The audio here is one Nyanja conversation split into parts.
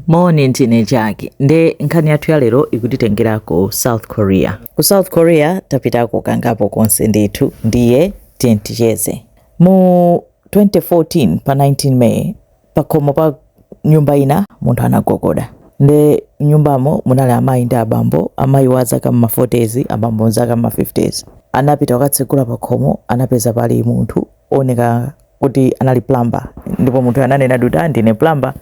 Moni ndine Jaki nde nkhani yathu ya lero ikutitengera ku South Korea. Ku South Korea tapitako kangapo konse ndithu ndiye tiyeni ticheze. Mu 2014 pa 19 May pakhomo pa nyumba ina munthu anagogoda nde nyumbamo munali amayi ndi abambo, amayi wa zaka m'ma 40s abambo zaka m'ma 50s. Anapita kukatsegula pakhomo anapeza pali munthu oneka kuti anali plumber ndipo munthu ananena kuti ah ndine plumber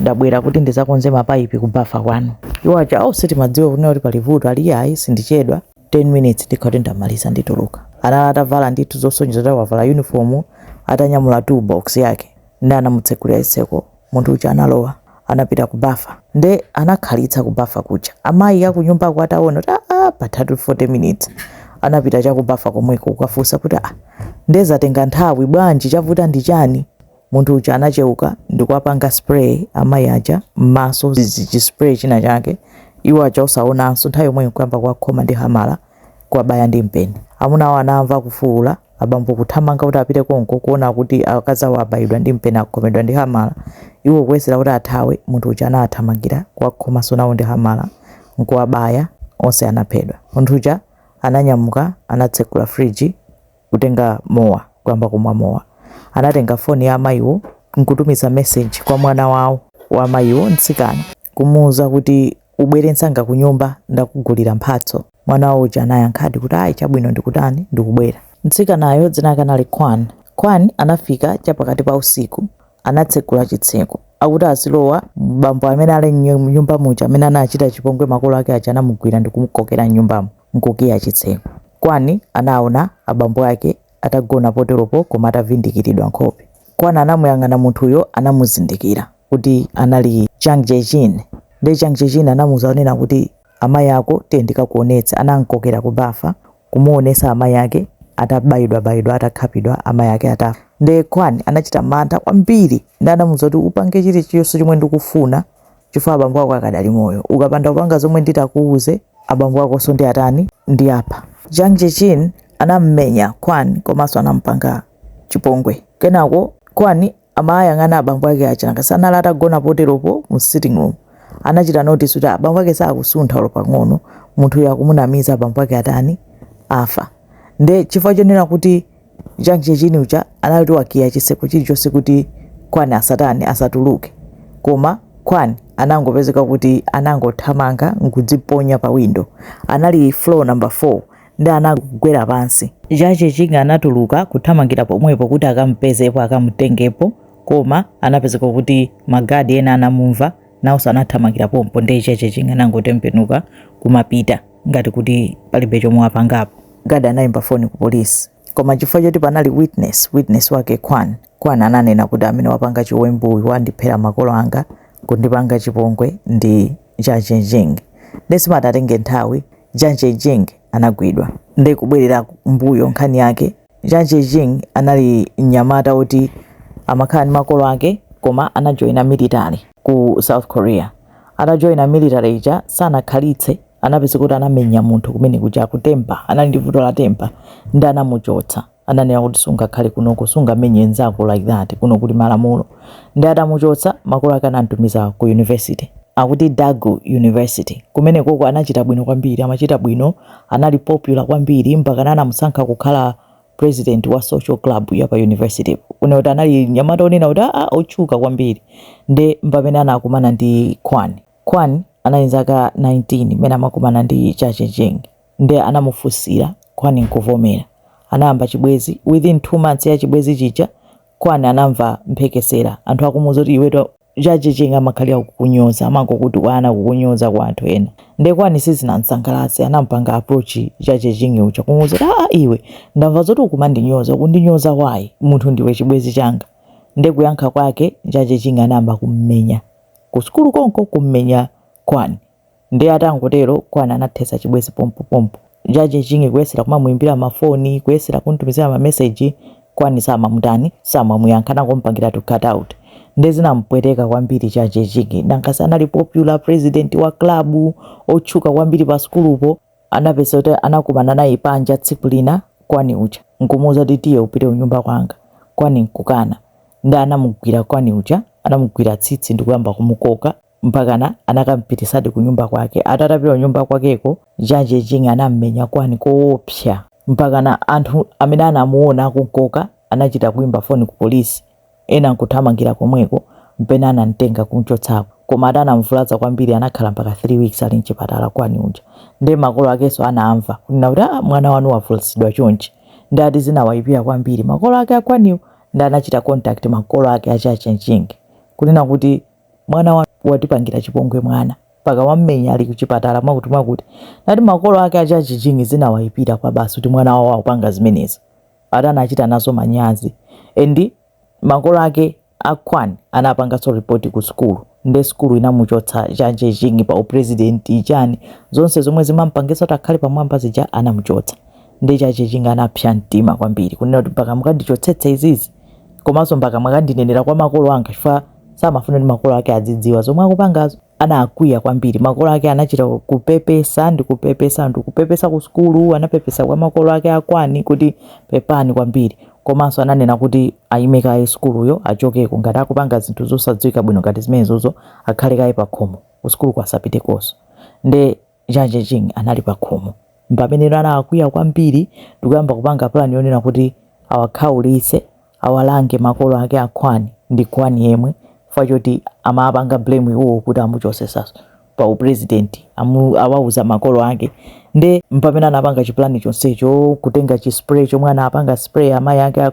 ndabwera kuti ndizakonze mapaipi kubafa kwanu iwo aja au sitimadziwa kunena kuti pali vuto ali iyayi sindichedwa 10 minutes ndikhati ndamaliza ndituluka anali atavala ndithu zosonyeza kuti wavala uniform atanyamula toolbox yake ndi anamutsekulira chitseko Munthu uja analowa anapita ku bafa nde anakhalitsa ku bafa kuja amayi akunyumbako ataona kuti aa pathatu 40 minutes anapita cha ku bafa komweko kukafunsa kuti aa nde zatenga nthawi bwanji chavuta ndi chani munthu uja anacheuka ndikuwapanga spray amayi aja m'maso chi spray china chake iwo aja osaonanso nthawi yomweyo nkuyamba kuwakhoma ndi hamala kuwabaya ndi mpeni. Amunawo anamva kufuula, abambo kuthamanga kuti apite konko kuona kuti akazi awo abayidwa ndi mpeni akhomedwa ndi hamala. Iwo kuyesera kuti athawe, munthu uja anawathamangira, kuwakhomanso nawo ndi hamala, n'kuwabaya, onse anaphedwa. Munthu uja ananyamuka, anatsekula fridge, kutenga mowa, kuyamba kumwa mowa. Anatenga foni ya amayiwo nkutumiza meseji kwa mwana wawo wa amayiwo, mtsikana, kumuuza kuti ubwere nsanga kunyumba ndakugulira mphatso. Mwana wawo uja anayankhadi kuti ayi chabwino ndikutani ndikubwera. Mtsikanayo dzina lake anali Kwan. Kwan anafika cha pakati pa usiku. Anatsekula chitseko. Akuti azilowa, bambo amene ali mnyumba muja amene anachita chipongwe makolo ake aja anamugwira ndikumukokera mnyumbamo. n'kukiya chitseko. Kwan anaona abambo ake atagona poteropo koma atavindikiridwa nkhope. Kwan anamuyang'ana munthuyo anamuzindikira kuti anali Jang Jae-jin nde Jang Jae-jin anamuuza kunena kuti amayi ako tiye ndikakuonetse anam'kokera ku bafa kumuonesa amayi ake atabayidwabayidwa atakhapidwa amayi ake atafa nde Kwan anachita mantha kwambiri nde anamuuza kuti upange chilichonse chomwe ndikufuna chifukwa abambo ako akadali moyo ukapanda kupanga zomwe nditakuuze abambo akonso ndiatani ndiapha Jang Jae-jin anammenya Kwan komanso anampanga chipongwe kenako Kwan amayang'ana abambo ake aja nanga si anali atagona poteropo mu sitting room anachita notice kuti abambo ake sakusuntha olo pang'ono munthuyo akumunamiza abambo ake atani afa nde chifukwa chonena kuti Jang Jae-jin uja anali kuti wakiya chiseko chilichonse kuti Kwan asatani asatuluke koma Kwan anangopezeka kuti anangothamanga nkudziponya pa window anali floor number 4 ndi anagwera pansi. Jang Jae-jin anatuluka kuthamangira pomwepo kuti akamupezepo akamutengepo koma anapezeka kuti ma guard ena anamumva Naonso anathamangira pompo nde Jang Jae-jin anangotembenuka kumapita ngati kuti palibe chomwe wapangapo. Guard anaimba foni ku polisi koma chifukwa choti panali witness, witness wake Kwan, Kwan ananena kuti amene wapanga chiwembu uyu wandiphera makolo anga, kundipanga chipongwe ndi Jang Jae-jin. Nde sipanatenge nthawi Jang Jae-jin anagwidwa. Nde kubwerera mbuyo nkhani yake. Jang Jae-jin anali mnyamata woti amakhala ndi makolo ake koma anajoina military ku South Korea. Atajoina military ija sanakhalitse anapezeka kuti anamenya munthu kumene kuja akuti temper, anali ndi vuto la temper nde anamuchotsa. Ananena kuti sungakhale kunoko, sungamenye nzako like that, kuno kuli malamulo. Nde atamuchotsa, makolo ake anamtumiza ku university akuti Daegu University. Kumenekoko anachita bwino kwambiri, amachita bwino anali popular kwambiri mpakana anamusankha kukhala president wa social club ya pa university une kuti anali mnyamata onena kuti aa otchuka kwambiri nde mpamene anakumana ndi Kwan Kwan anali ndi zaka 19 mmene amakumana ndi Jang Jae-jin nde anamufunsira Kwan nkuvomera anayamba chibwezi within two months ya chibwezi chija Kwan anamva mphekesera anthu akumuuza kuti iwetu Jang Jae-jin amakhalira kukunyoza amangokutukwana kukunyoza kwa anthu ena nde Kwani sizinamsangalatse anampanga approach Jang Jae-jin uja kumuuza ah iwe ndamva zoti ukumandinyoza ukundinyoza why munthu ndiwe chibwezi changa nde kuyankha kwake Jang Jae-jin anayamba kummenya kusukulu konko kummenya Kwani Nde atangotero Kwani anathetsa chibwezi pompo pompo. Jang Jae-jin kuyesera kumamuimbira ma foni, kuyesera kumtumizira ma message, Kwani samamutani, samamuyankha anangomupangiratu cut out. Nde zinamupweteka kwambiri Jang Jae-jin, nanga si anali popular, president wa club, otchuka kwambiri pa sukulupo. Anapeza kuti anakumana naye panja tsiku lina Kwani uja, nkumuuza kuti tiye upite kunyumba kwanga. Kwani nkukana. Nde anamugwira Kwani uja, anamugwira tsitsi ndikuyamba kumukoka. mpakana anakamupitisadi kunyumba kwake ati atapita kunyumba kwakeko Jang Jae-jin anammenya Kwani koopsa mpakana anthu amene anamuona akumkoka anachita kuimba foni ku polisi ena nkuthamangira komweko mpena anamtenga kumchotsako koma ati anamvulaza kwambiri anakhala mpaka 3 weeks ali mchipatala Kwani uja nde makolo akenso anamva kunena kuti ah, mwana wanu wavulazidwa chonchi nde ati zinawayipira kwambiri makolo ake a Kwaniwo nde anachita contact makolo ake a Jang Jae-jin kunena kuti mwana wanu watipangira chipongwe mwana mpaka wammenya ali kuchipatala mwakuti mwakuti nde ati makolo ake a Jang Jae-jin zinawaipira kwabasi kuti mwana wawo akupanga zimenezo ati anachita nazo manyazi endi makolo ake a Kwani anapanganso ripoti ku sukulu nde sukulu inamuchotsa Jang Jae-jin pa uprezidenti chani zonse zomwe zimampangitsa kuti akhale pamwamba zija anamuchotsa nde Jang Jae-jin anapsa mtima kwambiri kunena kuti mpaka mukandichotsetse izizi komanso mpaka mwakandinenera kwa makolo anga chifukwa samafuna kuti makolo ake adzidziwa zomwe akupangazo anakwiya kwambiri makolo ake anachita kupepesa ndi kupepesa ndi kupepesa ku sukulu anapepesa kwa makolo ake a Kwon kuti pepani kwambiri komanso ananena kuti ayime kaye sukuluyo achokeko ngati akupanga zinthu zosadziwika bwino ngati zimenezozo akhale kaye pakhomo kusukuluko asapitekonso nde Jang Jae-jin anali pakhomo. M'pameneno anakwiya kwambiri ndi kuyamba kupanga pulani yonena kuti awakhaulitse, awalange makolo ake a Kwon ndi Kwon yemwe chifukwa choti amawapanga blame iwowo kuti amuchosesaso pa upulezidenti, awauza makolo ake. Nde m'pamene anapanga chipulani chonsecho, kutenga chi spray chomwe anapanga spray amayi ake a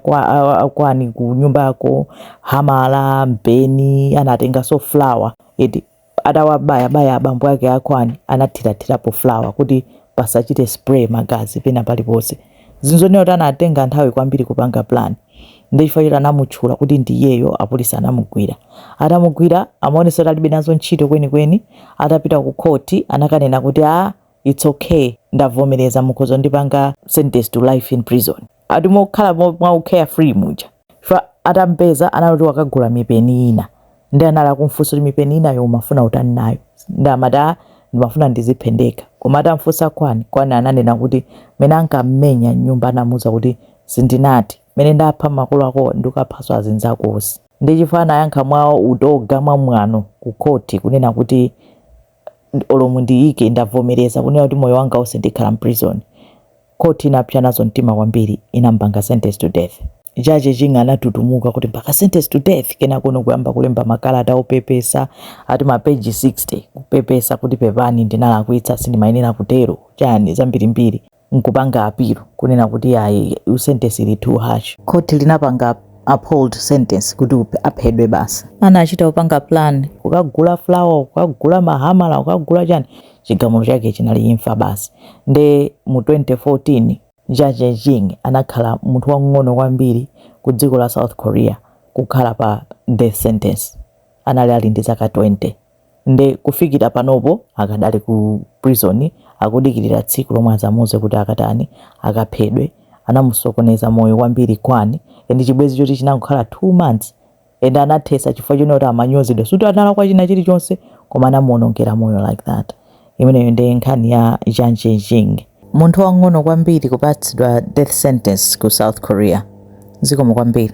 Kwon kunyumbako, hamala, mpeni, anatenganso flour eti. atawabayabaya abambo ake a Kwon anathirathirapo flour kuti pasachite spray magazi pena paliponse. Zinthu zonena kuti anatenga nthawi kwambiri kupanga plan. Ndi chifukwa choti anamutchula kuti ndi iyeyo apolisi anamugwira. Atamugwira amaonesa kuti alibe nazo ntchito kwenikweni. Atapita ku court anakanena kuti ah it's okay ndavomereza mukhoza kundipanga sentence to life in prison. ati mokhala mwa u carefree muja chifukwa atampeza anali kuti wakagula mipeni ina ndi anali akumfunsa kuti mipeni inayo umafuna utani nayo ndi amati a ndimafuna ndiziphe ndekha koma atamfunsa Kwon Kwon ananena kuti mene ankammenya m'nyumba anamuza kuti sindinati mene ndapha makolo ako ndikaphaso azinzako onse ndi chifukwa anayankha mwa utoga mwa mwano ku khoti kunena kuti olo mundiike ndavomereza kunena kuti moyo wanga onse ndikhala mprison court inapsa nazo mtima kwambiri inampanga sentence to death Jang Jae-jin anatutumuka kuti mpaka sentence to death kenakono kuyamba kulemba makalata opepesa ati mapeji 60 kupepesa kuti pepani ndinalakwitsa sindimayenera kutero chani zambirimbiri nkupanga appeal kunena kuti ayi sentence ili too harsh. Court linapanga uphold sentence kuti aphedwe basi. Anachita kupanga plan. Kukagula flour, kukagula mahamala, kukagula chani. Chigamulo chake chinali imfa basi. Nde mu 2014 Jang Jae-jin anakhala munthu wamng'ono kwambiri ku dziko la South Korea kukhala pa death sentence. Anali ali ndi zaka 20. nde kufikira panopo akadali ku prison akudikirira tsiku lomwe azamuuze kuti akatani akaphedwe anamusokoneza moyo kwambiri Kwon and chibwezi choti chinangokhala 2 months and anathesa chifukwa chonena kuti amanyozedwa suti analakwa china chilichonse koma anamuonongera moyo like that imeneyo nde nkhani ya Jang Jae-jin munthu wang'ono kwambiri kupatsidwa death sentence ku South Korea zikomo kwambiri